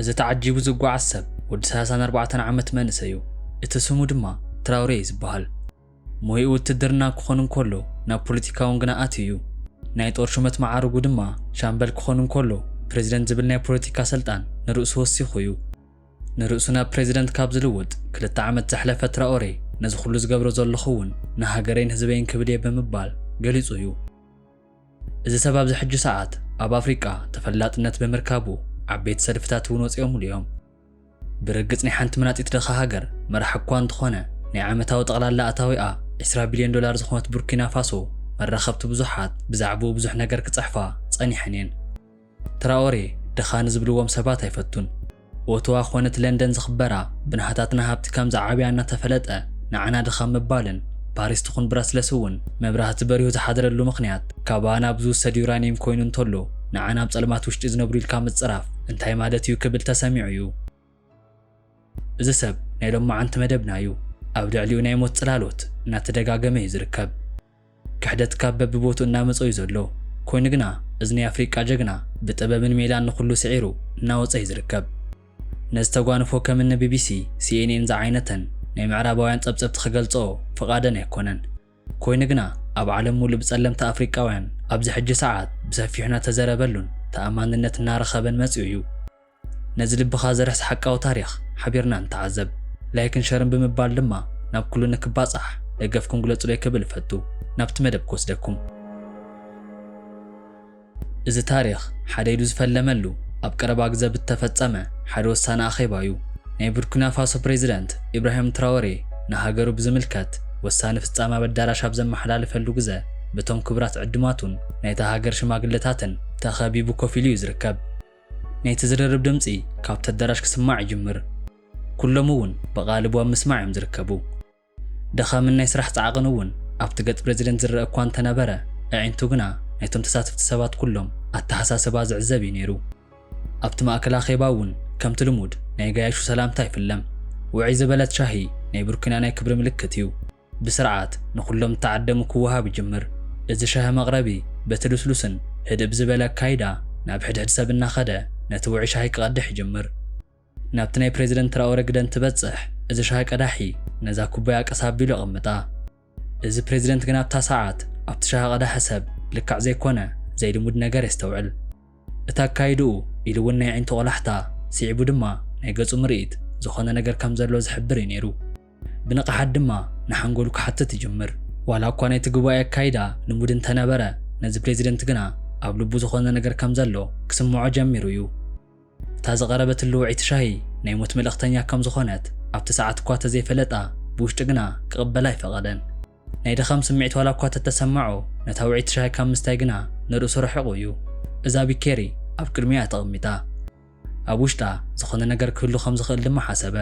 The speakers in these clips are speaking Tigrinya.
እዚ ተዓጂቡ ዝጓዓዝ ሰብ ወዲ ሰላሳን ኣርባዕተን ዓመት መንእሰይ እዩ፣ እቲ ስሙ ድማ ትራውሬ እዩ ዝበሃል። ሞይኡ ውትድርና ክኾን እንከሎ ናብ ፖለቲካ'ውን ግና ኣትዩ እዩ። ናይ ጦር ሹመት መዓርጉ ድማ ሻምበል ክኾን እንከሎ ፕረዚደንት ዝብል ናይ ፖለቲካ ሰልጣን ንርእሱ ወሲኹ እዩ። ንርእሱ ናብ ፕረዚደንት ካብ ዝልውጥ ክልተ ዓመት ዘሕለፈ ትራኦሬ ነዚ ኩሉ ዝገብሮ ዘለኹ'ውን ንሃገረይን ህዝበይን ክብል እየ ብምባል ገሊጹ እዩ። እዚ ሰብ ኣብዚ ሕጂ ሰዓት ኣብ ኣፍሪቃ ተፈላጥነት ብምርካቡ ዓበይቲ ሰልፍታት እውን ወጺኦምሉ እዮም። ብርግጽ ናይ ሓንቲ መናጢት ድኻ ሃገር መራሒ እኳ እንተኾነ ናይ ዓመታዊ ጠቕላላ ኣታዊኣ ዕስራ ቢልዮን ዶላር ዝኾነት ቡርኪናፋሶ መራኸብቲ ብዙሓት ብዛዕብኡ ብዙሕ ነገር ክጽሕፋ ጸኒሐን እየን። ትራኦሬ ድኻ ንዝብልዎም ሰባት ኣይፈቱን። ኦቶዋ ኮነት ለንደን ዝኽበራ ብናህታትና ሃብቲ ከም ዝዓብያ እናተፈለጠ ንዓና ድኻ ምባልን ፓሪስ ትኹን ብራስለስ እውን መብራህቲ በሪሁ ዝሓደረሉ ምኽንያት ካባና ብዝውሰድ ዩራኒየም ኮይኑ እንተሎ ንዓና ኣብ ፀልማት ውሽጢ ዝነብሩ ኢልካ ምፅራፍ እንታይ ማለት እዩ ክብል ተሰሚዑ እዩ። እዚ ሰብ ናይ ሎማዓንቲ መደብና እዩ። ኣብ ልዕሊኡ ናይ ሞት ፅላሎት እናተደጋገመ እዩ ዝርከብ። ክሕደት ካብ በብቦትኡ እናመጾ እዩ ዘሎ ኮይኑ ግና እዚ ናይ ኣፍሪቃ ጀግና ብጥበብን ሜላን ንኹሉ ስዒሩ እናወጸ እዩ ዝርከብ ነዚ ተጓንፎ ከም እኒ ቢቢሲ ሲኤንኤን ዝዓይነተን ናይ ምዕራባውያን ጸብጸብቲ ክገልጸኦ ፍቓደን ኣይኮነን ኮይኑ ግና ኣብ ዓለም ሙሉእ ብጸለምቲ ኣፍሪቃውያን ኣብዚ ሕጂ ሰዓት ብሰፊሑ እናተዘረበሉን ተኣማንነት እናረኸበን መጺኡ እዩ። ነዚ ልብኻ ዘርሕስ ሓቃዊ ታሪኽ ሓቢርና ንተዓዘብ። ላይክን ሸርን ብምባል ድማ ናብ ኩሉ ንክባጻሕ ደገፍኩም ግለጹለይ ክብል እፈቱ። ናብቲ መደብ ክወስደኩም። እዚ ታሪኽ ሓደ ኢሉ ዝፈለመሉ ኣብ ቀረባ ግዘ ብተፈጸመ ሓደ ወሳኒ ኣኼባ እዩ። ናይ ቡርኪናፋሶ ፕሬዚደንት ኢብራሂም ትራወሬ ንሃገሩ ብዝምልከት ወሳኒ ፍጻመ ኣብ ኣዳራሽ ኣብ ዘመሓላልፈሉ ግዘ በቶም ክቡራት ዕዱማቱን ናይታ ሃገር ሽማግለታትን ተኸቢቡ ኮፍ ኢሉ እዩ ዝርከብ። ናይቲ ዝርርብ ድምጺ ካብቲ ኣዳራሽ ክስማዕ ይጅምር። ኩሎም እውን ብቓልቡ ኣብ ምስማዕ እዮም ዝርከቡ። ድኻምን ናይ ስራሕ ጻዕቕን እውን ኣብቲ ገጽ ፕረዚደንት ዝረኣ እኳ እንተ ነበረ፣ ኣዒንቱ ግና ናይቶም ተሳተፍቲ ሰባት ኩሎም ኣተሓሳስባ ዝዕዘብ እዩ ነይሩ። ኣብቲ ማእከል ኣኼባ እውን ከምቲ ልሙድ ናይ ገያሹ ሰላምታ ኣይፍለም። ውዕይ ዝበለት ሻሂ ናይ ብርኩንያ ናይ ክብሪ ምልክት እዩ። ብስርዓት ንኹሎም ዝተዓደሙ ክወሃብ ይጅምር። እዚ ሻሂ መቕረቢ በቲ ልስሉስን ህድእ ብዝበለ ኣካይዳ ናብ ሕድሕድ ሰብ እናኸደ ነቲ ውዑይ ሻሂ ክቐድሕ ይጅምር። ናብቲ ናይ ፕረዚደንት ትራኦረ ግደ እንትበጽሕ እዚ ሻሂ ቀዳሒ ነዛ ኩባያ ቀስ ኣቢሉ የቐምጣ። እዚ ፕረዚደንት ግን ኣብታ ሰዓት ኣብቲ ሻሂ ቀዳሒ ሰብ ልክዕ ዘይኮነ ዘይልሙድ ነገር የስተውዕል። እቲ ኣካይድኡ ኢሉ እውን ናይ ኣዒንቱ ቆላሕታ ስዒቡ ድማ ናይ ገጹ ምርኢት ዝኾነ ነገር ከም ዘሎ ዝሕብር እዩ ነይሩ። ብንቕሓት ድማ ንሓንጎሉ ክሓትት ይጅምር። ዋላ እኳ ናይቲ ጉባኤ ኣካይዳ ልሙድ እንተ ነበረ፣ ነዚ ፕረዚደንት ግና ኣብ ልቡ ዝዀነ ነገር ከም ዘሎ ክስምዖ ጀሚሩ እዩ። እታ ዝቐረበት ልውዕይቲ ሻሂ ናይ ሞት መልእኽተኛ ከም ዝዀነት ኣብቲ ሰዓት እኳ እተ ዘይፈለጣ፣ ብውሽጢ ግና ክቕበላ ኣይፈቐደን። ናይ ድኻም ስምዒት ዋላ እኳ እተ ተሰመዖ፣ ነታ ውዕይቲ ሻሂ ካብ ምስታይ ግና ንርእሱ ርሒቑ እዩ። እዛ ቢኬሪ ኣብ ቅድሚኡ እያ ተቐሚጣ። ኣብ ውሽጣ ዝዀነ ነገር ክህሉ ከም ዝኽእል ድማ ሓሰበ።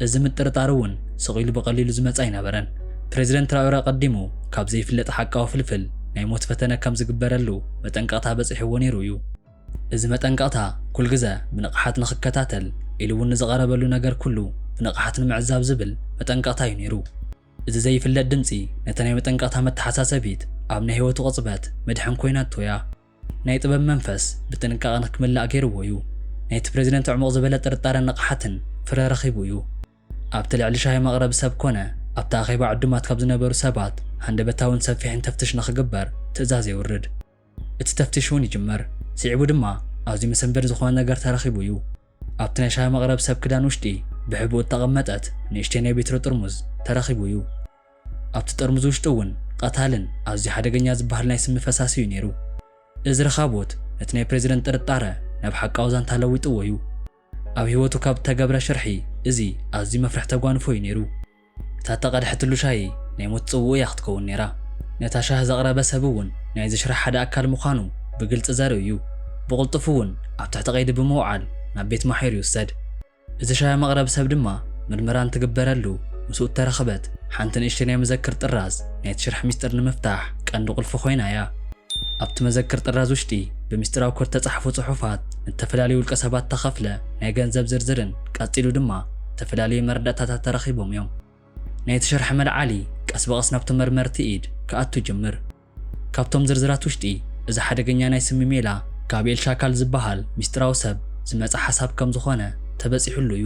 እዚ ምጥርጣር እውን ስቕ ኢሉ ብቐሊሉ ዝመጸ ኣይነበረን። ፕረዚደንት ትራኦረ ኣቐዲሙ ካብ ዘይፍለጥ ሓቃዊ ፍልፍል ናይ ሞት ፈተነ ከም ዝግበረሉ መጠንቀቕታ በጺሕዎ ነይሩ እዩ። እዚ መጠንቀቕታ ኩልግዘ ብንቕሓት ንኽከታተል ኢሉ እውን ንዝቐረበሉ ነገር ኩሉ ብንቕሓት ንምዕዛብ ዝብል መጠንቀቕታ እዩ ነይሩ። እዚ ዘይፍለጥ ድምጺ ነቲ ናይ መጠንቀቕታ መተሓሳሰቢት ኣብ ናይ ህይወቱ ቅጽበት መድሕን ኮይናቶ እያ። ናይ ጥበብ መንፈስ ብጥንቃቐ ንክምላእ ገይርዎ እዩ። ናይቲ ፕረዚደንት ዕሙቕ ዝበለ ጥርጣረን ንቕሓትን ፍረ ረኺቡ እዩ። ኣብቲ ልዕሊ ሻሂ መቕረቢ ሰብ ኮነ ኣብቲ ኣኼባ ዕዱማት ካብ ዝነበሩ ሰባት ሃንደበታውን ሰፊሕን ተፍትሽ ንክግበር ትእዛዝ የውርድ። እቲ ተፍትሽ እውን ይጅመር። ስዒቡ ድማ ኣዝዩ መሰንበዲ ዝኾነ ነገር ተረኺቡ እዩ። ኣብቲ ናይ ሻሂ መቕረቢ ሰብ ክዳን ውሽጢ ብሕቡእ እተቐመጠት ንእሽተይ ናይ ቢትሮ ጥርሙዝ ተረኺቡ እዩ። ኣብቲ ጠርሙዝ ውሽጢ እውን ቐታልን ኣዝዩ ሓደገኛ ዝበሃል ናይ ስሚ ፈሳሲ እዩ ነይሩ። እዚ ርኻቦት ነቲ ናይ ፕረዚደንት ጥርጣረ ናብ ሓቃዊ ዛንታ ለዊጥዎ እዩ። ኣብ ህይወቱ ካብ እተገብረ ሽርሒ እዚ ኣዝዩ መፍርሒ ተጓንፎ እዩ ነይሩ። እታ እተቐድሐትሉ ሻሂ ናይ ሞት ጽውኡ እያ ክትከውን ነይራ። ነታ ሻሂ ዘቕረበ ሰብ እውን ናይዚ ሽርሒ ሓደ ኣካል ምዃኑ ብግልጺ ዘርኢ እዩ። ብቕልጡፍ እውን ኣብ ትሕቲ ቀይዲ ብምውዓል ናብ ቤት ማሕዩር ይውሰድ። እቲ ሻያ መቕረብ ሰብ ድማ ምርመራ እንትግበረሉ ምስኡ እተረኽበት ሓንቲ ንእሽተይ ናይ መዘክር ጥራዝ ናይቲ ሽርሒ ምስጢር ንምፍታሕ ቀንዲ ቁልፊ ኮይና እያ። ኣብቲ መዘክር ጥራዝ ውሽጢ ብምስጢራዊ ኮድ እተጻሕፉ ጽሑፋት፣ ንእተፈላለዩ ውልቀሰባት እተኸፍለ ናይ ገንዘብ ዝርዝርን ቀጺሉ ድማ እተፈላለዩ መረዳእታታት ተረኺቦም እዮም። ናይቲ ሽርሒ መልዓሊ ቀስ ብቐስ ናብቶም መርመርቲ ኢድ ክኣቱ ይጅምር። ካብቶም ዝርዝራት ውሽጢ እዚ ሓደገኛ ናይ ስሚ ሜላ ጋብኤል ሻካል ዝበሃል ሚስጢራዊ ሰብ ዝመፀ ሓሳብ ከም ዝኾነ ተበፂሑሉ እዩ።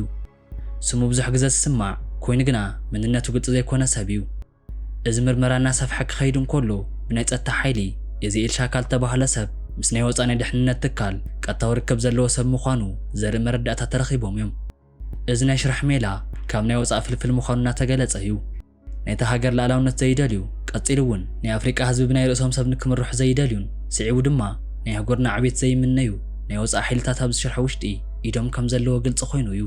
ስሙ ብዙሕ ግዘ ዝስማዕ ኮይኑ ግና መንነቱ ግልፂ ዘይኮነ ሰብ እዩ። እዚ ምርመራ እናሰፍሐ ክኸይድ እንከሎ ብናይ ፀጥታ ሓይሊ የዚኤል ሻካል ዝተባህለ ሰብ ምስ ናይ ወፃኢ ናይ ደሕንነት ትካል ቀጥታዊ ርክብ ዘለዎ ሰብ ምዃኑ ዘርኢ መረዳእታ ተረኺቦም እዮም። እዚ ናይ ሽራሕ ሜላ ካብ ናይ ወፃኢ ፍልፍል ምዃኑ እናተገለፀ እዩ። ናይታ ሃገር ልኣላውነት ዘይደልዩ፣ ቀጺሉ እውን ናይ ኣፍሪቃ ህዝቢ ብናይ ርእሶም ሰብ ንክምርሑ ዘይደልዩን ስዒቡ ድማ ናይ ኣህጉርና ዕቤት ዘይምነዩ ናይ ወጻኢ ሓይልታት ኣብዚ ሽርሒ ውሽጢ ኢዶም ከም ዘለዎ ግልጺ ኮይኑ እዩ።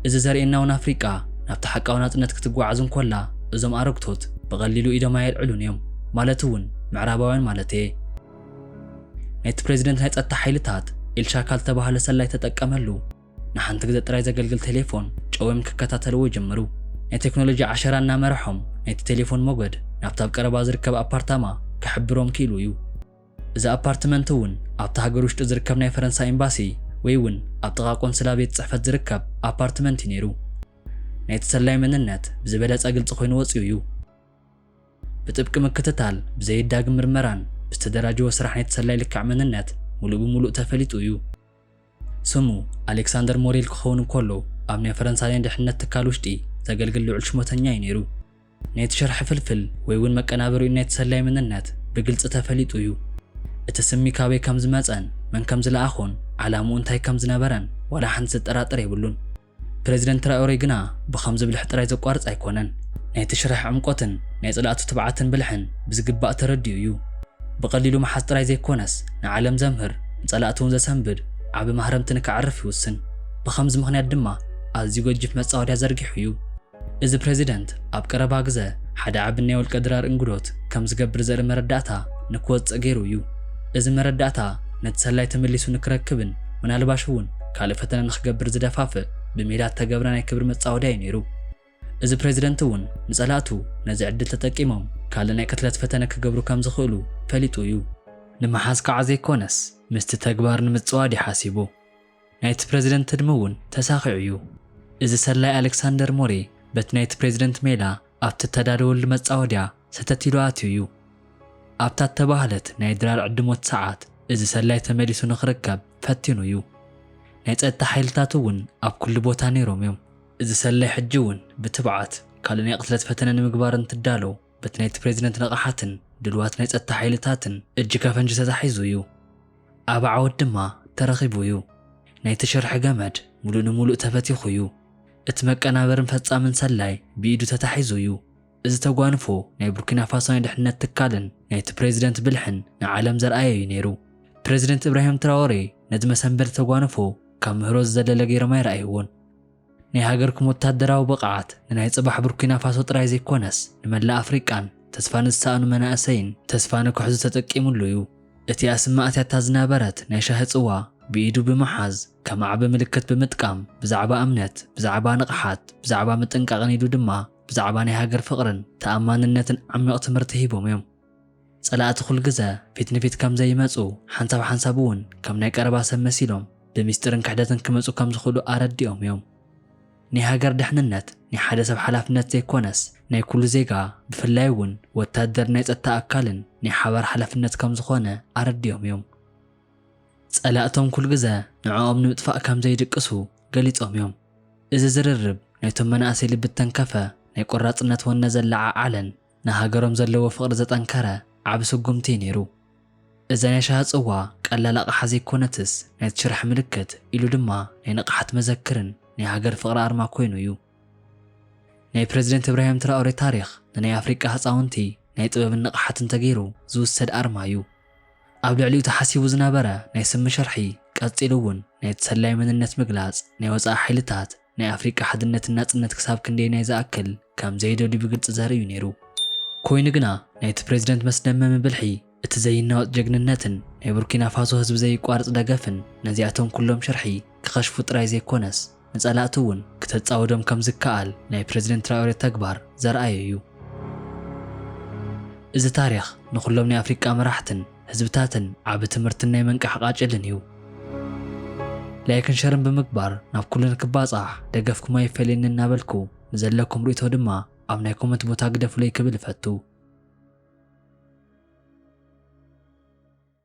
እዚ ዘርእየና እውን ኣፍሪቃ ናብቲ ሓቃዊ ናጽነት ክትጓዓዝ እንኮላ እዞም ኣረግቶት ብቐሊሉ ኢዶም ኣየልዕሉን እዮም ማለት እውን ምዕራባውያን ማለት እየ። ናይቲ ፕረዚደንት ናይ ጸጥታ ሓይልታት ኢልሻካል ዝተባህለ ሰላይ ተጠቀመሉ። ንሓንቲ ግዘ ጥራይ ዘገልግል ቴሌፎን ጨውዮም ክከታተልዎ ይጅምሩ። ናይ ቴክኖሎጂ ዓሸራ እናመረሖም ናይቲ ቴሌፎን ሞገድ ናብቲ ኣብ ቀረባ ዝርከብ ኣፓርታማ ክሕብሮም ክኢሉ እዩ። እዚ ኣፓርትመንት እውን ኣብቲ ሃገር ውሽጢ ዝርከብ ናይ ፈረንሳ ኤምባሲ ወይ እውን ኣብ ጥቓ ቆንስላ ቤት ፅሕፈት ዝርከብ ኣፓርትመንት እዩ ነይሩ። ናይቲ ሰላዪ መንነት ብዝበለፀ ግልፂ ኮይኑ ወፂኡ እዩ። ብጥብቂ ምክትታል፣ ብዘይዳግም ምርመራን ብዝተደራጀወ ስራሕ ናይቲ ሰላዪ ልክዕ መንነት ሙሉእ ብሙሉእ ተፈሊጡ እዩ። ስሙ ኣሌክሳንደር ሞሬል ክኸውን እንከሎ፣ ኣብ ናይ ፈረንሳ ናይ ድሕነት ትካል ውሽጢ ዘገልግል ልዑል ሽሞተኛ እዩ ነይሩ። ናይቲ ሽርሒ ፍልፍል ወይ'ውን መቀናበሪኡን ናይቲ ሰላዪ መንነት ብግልጺ ተፈሊጡ እዩ። እቲ ስሚ ካበይ ከም ዝመጸን መን ከም ዝለኣኾን ዓላምኡ እንታይ ከም ዝነበረን ዋላ ሓንቲ ዘጠራጥር የብሉን። ፕረዚደንት ትራኦሬ ግና ብኸምዚ ብልሒ ጥራይ ዘቋርጽ ኣይኮነን። ናይቲ ሽርሒ ዕምቆትን ናይ ጸላእቱ ትብዓትን ብልሕን ብዝግባእ ተረዲኡ እዩ። ብቐሊሉ ምሓዝ ጥራይ ዘይኮነስ ንዓለም ዘምህር ንጸላእቱ'ውን ዘሰንብድ ዓቢ ማህረምቲ ንከዕርፍ ይውስን። ብኸምዚ ምኽንያት ድማ ኣዝዩ ገጂፍ መጻወድያ ዘርጊሑ እዩ። እዚ ፕረዚደንት ኣብ ቀረባ ግዘ ሓደ ዓቢ ናይ ውልቀ ድራር እንግዶት ከም ዝገብር ዘርኢ መረዳእታ ንክወጽእ ገይሩ እዩ። እዚ መረዳእታ ነቲ ሰላይ ተመሊሱ ንክረክብን ምናልባሽ እውን ካልእ ፈተነ ንክገብር ዝደፋፍእ ብሜላ እተገብረ ናይ ክብሪ መጻወድያ እዩ ነይሩ። እዚ ፕረዚደንት እውን ንጸላእቱ ነዚ ዕድል ተጠቂሞም ካልእ ናይ ቅትለት ፈተነ ክገብሩ ከም ዝኽእሉ ፈሊጡ እዩ። ንምሓዝ ከዓ ዘይኮነስ ምስቲ ተግባር ንምጽዋድ እዩ ሓሲቡ። ናይቲ ፕረዚደንት ትልሚ እውን ተሳኺዑ እዩ። እዚ ሰላዪ ኣሌክሳንደር ሞሬ በቲ ናይቲ ፕረዚደንት ሜላ ኣብቲ እተዳለወሉ መጻወድያ ሰተት ኢሉ ኣትዩ እዩ። ኣብታ እተባህለት ናይ ድራር ዕድሞት ሰዓት እዚ ሰላዪ ተመሊሱ ንኽርከብ ፈቲኑ እዩ። ናይ ጸጥታ ሓይልታት እውን ኣብ ኵሉ ቦታ ነይሮም እዮም። እዚ ሰላዪ ሕጂ እውን ብትብዓት ካልእ ናይ ቕትለት ፈተነ ንምግባር እንትዳሎ በቲ ናይቲ ፕሬዚደንት ንቕሓትን ድልዋት ናይ ፀጥታ ሓይልታትን እጅ ከፈንጂ ተታሒዙ እዩ። ኣብ ዓወት ድማ ተረኺቡ እዩ። ናይቲ ሽርሒ ገመድ ሙሉእ ንሙሉእ ተበቲኹ እዩ። እቲ መቀናበርን ፈፃምን ሰላይ ብኢዱ ተታሒዙ እዩ። እዚ ተጓንፎ ናይ ቡርኪናፋሶ ናይ ድሕንነት ትካልን ናይቲ ፕሬዚደንት ብልሕን ንዓለም ዘርኣየ እዩ ነይሩ። ፕሬዚደንት ኢብራሂም ትራወሬ ነዚ መሰንበዲ ተጓንፎ ካብ ምህሮ ዝዘለለ ገይሮም ኣይረኣይዎን። ናይ ሃገርኩም ወታደራዊ ብቕዓት ንናይ ጽባሕ ቡርኪናፋሶ ጥራይ ዘይኮነስ ንመላእ ኣፍሪቃን ተስፋ ንዝሰኣኑ መናእሰይን ተስፋ ንክሕዙ ተጠቂምሉ እዩ። እቲ ኣስማእቲያታ ዝነበረት ናይ ሻሂ ጽዋ ብኢዱ ብምሓዝ ከም ኣዕቢ ምልክት ብምጥቃም ብዛዕባ እምነት፣ ብዛዕባ ንቕሓት፣ ብዛዕባ ምጥንቃቕን ኢሉ ድማ ብዛዕባ ናይ ሃገር ፍቕርን ተኣማንነትን ዓሚቕ ትምህርቲ ሂቦም እዮም። ጸላእቲ ኩል ግዘ ፊት ንፊት ከም ዘይመጹ ሓንሳብ ሓንሳብ እውን ከም ናይ ቀረባ ሰብ መሲሎም ብሚስጢርን ክሕደትን ክመጹ ከም ዝኽእሉ ኣረዲኦም እዮም። ናይ ሃገር ደሕንነት ናይ ሓደ ሰብ ሓላፍነት ዘይኮነስ ናይ ኩሉ ዜጋ ብፍላይ እውን ወታደርን ናይ ጸጥታ ኣካልን ናይ ሓባር ሓላፍነት ከም ዝኾነ ኣረዲኦም እዮም። ጸላእቶም ኩል ግዘ ንዕኦም ንምጥፋእ ከም ዘይድቅሱ ገሊጾም እዮም። እዚ ዝርርብ ናይቶም መናእሰይ ልቢ እተንከፈ ናይ ቆራጽነት ወነ ዘለዓዓለን ንሃገሮም ዘለዎ ፍቕሪ ዘጠንከረ ዓቢ ስጉምቲ'ዩ ነይሩ። እዛ ናይ ሻሂ ጽዋ ቀላል ኣቕሓ ዘይኮነትስ፣ ናይቲ ሽርሒ ምልክት ኢሉ ድማ ናይ ንቕሓት መዘክርን ናይ ሃገር ፍቕሪ ኣርማ ኮይኑ'ዩ። ናይ ፕረዚደንት እብራሂም ትራኦሬ ታሪኽ ንናይ ኣፍሪቃ ህጻውንቲ ናይ ጥበብን ንቕሓትን ተገይሩ ዝውሰድ ኣርማ'ዩ። ኣብ ልዕሊኡ ተሓሲቡ ዝነበረ ናይ ስሚ ሽርሒ ቀጺሉ'ውን ናይቲ ሰላዪ መንነት ምግላጽ ናይ ወጻኢ ሓይልታት፣ ናይ ኣፍሪቃ ሓድነትን ናጽነት ክሳብ ክንደየናይ ዝኣክል ከም ዘየደልዩ ብግልጺ ዘርኢ እዩ ነይሩ። ኮይኑ ግና ናይቲ ፕረዚደንት መስደመሚ ብልሒ፣ እቲ ዘይናወጽ ጀግንነትን ናይ ቡርኪናፋሶ ህዝቢ ዘይቋርጽ ደገፍን ነዚኣቶም ኩሎም ሽርሒ ክኸሽፉ ጥራይ ዘይኮነስ ንጸላእቲ እውን ክተጻውዶም ከም ዝከኣል ናይ ፕረዚደንት ትራኦሬ ተግባር ዘርኣየ እዩ። እዚ ታሪኽ ንኹሎም ናይ ኣፍሪቃ መራሕትን፣ ህዝብታትን ዓቢ ትምህርትን ናይ ምንቃሕ ቃጭልን እዩ። ላይክን ሸርን ብምግባር ናብ ኩሉ ንክባጻሕ ደገፍኩም ኣይፈለየኒ እናበልኩ ንዘለኩም ርእይቶ ድማ ኣብ ናይ ኮመንት ቦታ ግደፉለይ ክብል እፈቱ።